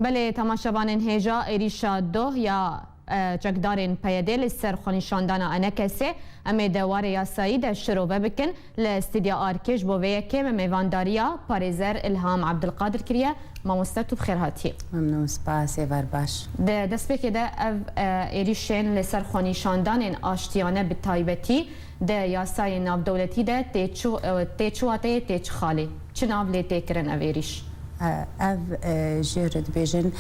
Belê temaşevanên hêja êrîşa doh ya çekdarên PYD'ê li ser xwenîşandana Enekesê em ê di warê yasayî de şirove bikin. Li stîdya ARK'ê ji bo vê yekê me mêvandariya parêzer Îlham Ebdilqadir kiriye. Mamoste tu bi xêr hatî. Memnûn spas ê var baş. Di destpêkê de ev êrîşên li ser xwenîşandanên aştiyane bi taybetî, Di yasayên navdewletî de tê çi tê çi wateyê tê çi xalê? Çi nav lê tê kirin ev êrîş? Ev jê re dibêjin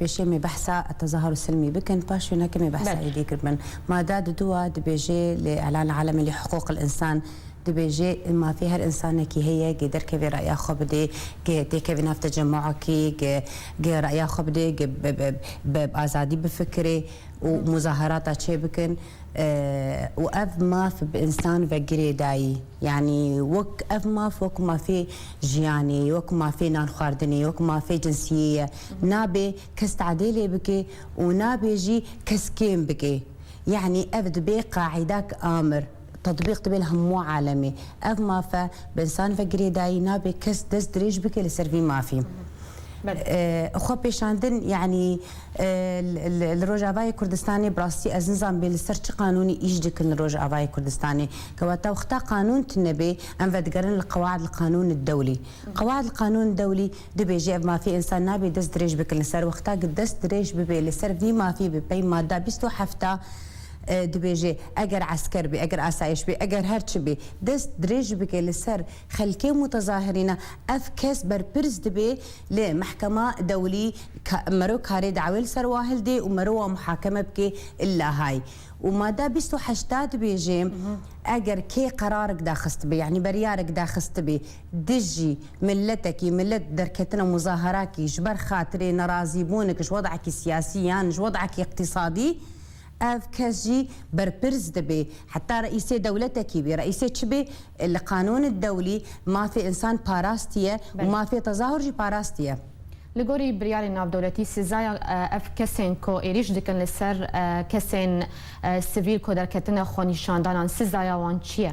pêşê me behsa tezaharu silmî bikin paş wê neke me behsa Belê. êdî kiribin. Mada di du a dibêjê li îlan alemi li hiqûqil însan dibêjê mafê her însanekî heye gê derkevê reya xwe bidê gê têkevê nav tecemûekî gê gê reya xwe bidê gê bi bi bi azadî bifikirê û muzaharata çêbikin. û ev maf bi însan ve girê dayî. Yanî wek ev maf wek mafê jiyanê ye, wek mafê nan xwardinê ye, wek mafê cinsiyê ye. Nabê kes tadê lê bike û nabê jî kes kêm bike. Yanî ev dibê qaîdak amir, tetbîq dibe li hemû alemê. Ev mafe bi însan ve girê dayî nabê kes dest dirêj bike li ser vî mafî. Xwepêşandin yanî. Li Rojavayê Kurdistanê bi rastî ez nizan bê li ser çi qanûnî îş dikin li Rojavayê Kurdistanê. Kewata wexta qanûn tune bê em vedigerin li Qewaid li Qanûn Dewlî. Qewaid li Qanûn Dewlî dibêje ev mafê însan nabê dest dirêj bikin li ser wexta ku dest dirêj bibê li ser vî mafê bi pey mada bîst û heft a dibêje eger esker bê eger asayiş bê eger her çi bê dest dirêj bike li ser Xelkê mutezahirîne ev kes berpirs dibe li mehkema dewlî ka mero karê dawê li ser wa hilde û mero wa muhakeme bike li Lahay. Û mada bîst û heşt da dibêje eger kê qerarik daxistibe yanî beryarik daxistibe dijî miletekî milet derketina muzaharakî ji ber xatirê nerazîbûnik ji wedekî siyasî yan ji wedekî îqtîsadî Ev kes jî berpirs dibê. Heta reîsê dewletekî bê, reîsê çi bê, li qanûnê dewlî mafê însan parastiye û mafê tezahur jî parastiye. Li gorî biryarên navdewletî sezaya ev kesên ku êrîş dikin li ser kesên sivîl ku derketine xwenîşandanan, sezaya wan çi ye?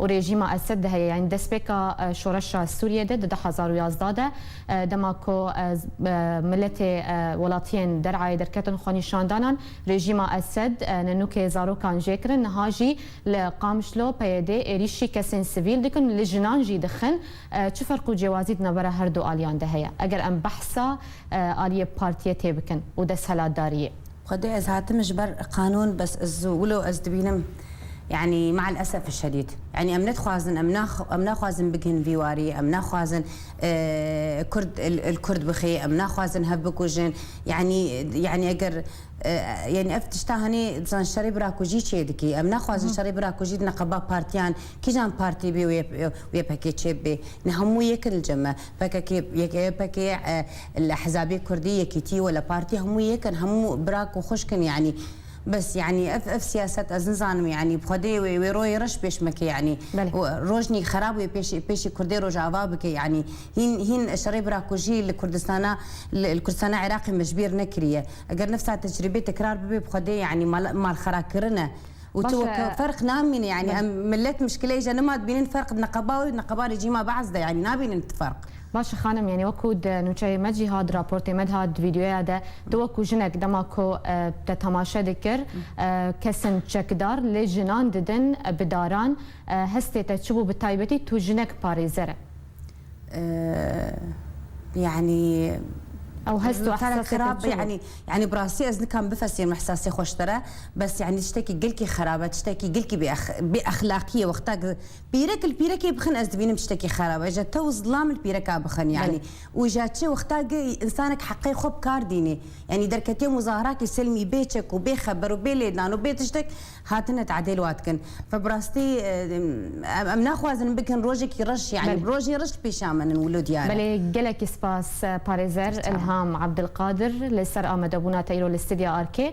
û rejîma Esed de heye yanî destpêka şoreşa Sûriyê de di du hezar û yazdeh de dema ku miletê welatiyên derayê derketin xwenîşandanan rejîma Esed nenûkê zarokan jê kirin niha jî li Qamşlo PYD êrîşî kesên sivîl dikin li jinan jî dixin çi ferq û cêwazî di navbera her du aliyan de heye eger em behsa aliyê partiyê tê bikin û desthilatdariyê. Xwedê ez hatim ji ber qanûn bes ez wilo ez dibînim. Yanî ma el esef şedîd. Yanî em nedixwazin em em naxwazin bigihin vî warî, em naxwazin kurd li kurd bixê, em naxwazin hev bikujin. Yanî yanî eger yanî ev tişta hanê bizan şerê birakujî çê dikî. Em naxwazin şerê birakujî di neqeba partiyan kîjan partî bê wê pekê çê bibê. Nê hemû yekin li cem e. Pkk pkk li hezabê kurdî, yekîtî wele partî hemû yekin hemû bira ku xwişk in yanî. Bes yanî ev ev siyaset ez nizanim yanî bi xwedê wê wê royê reş pêş meke yanî û rojnî xerab wê pêşê pêşî kurdê rojava bike yanî hîn hîn şerê bira ku jî li kurdistana li li kurdistana iraqê me ji bîr nekiriye eger nifsa tecrîbê tekrar bibê bi xwedê yanî mal malxera kirine û tu weke ferq namîne yanî em milet muşkileyê je nima dibînin ferq di neqeba wê û di neqeba rejîma behs de yanî nabînin tu ferq. Baş e xanim, yanî wek ku di nûçeyê me jî hat, di raportê me de hat, di vîdyoya de tu wek ku jinek dema ku te temaşe dikir kesin çekdar lê jinan didin bi daran hestê te çi bû bi taybetî tu jinek parêzer e. Yanî Ew hest û ihsasê te xerab çi bû? yanî yanî bi rastî ez nikam bifesînim ihsasê xwe ji te re bes yanî tiştekî gelkî xerab e tiştekî gelkî bêexlaqî ye wexta Pîrek li pîrekê bixin ez dibînim tiştekî xerab e. Ja te û zilam li pîreka bixin yanî. Û ja çi wexta gi însanek heqê xwe bi kar dînê. Yanî derketiye muzahiratê selmî bê çek û bê xeber û bê lêdan û bê tiştek hatine tadêl wa dikin. Ve bi rastî em naxwazin bikin rojekî reş yanî bi rojên reş li pêşa min in wilo diyar e. Belê gelekî spas parêzer Îlham Abdilqadir li ser amadebûna te îro li stidya Arkê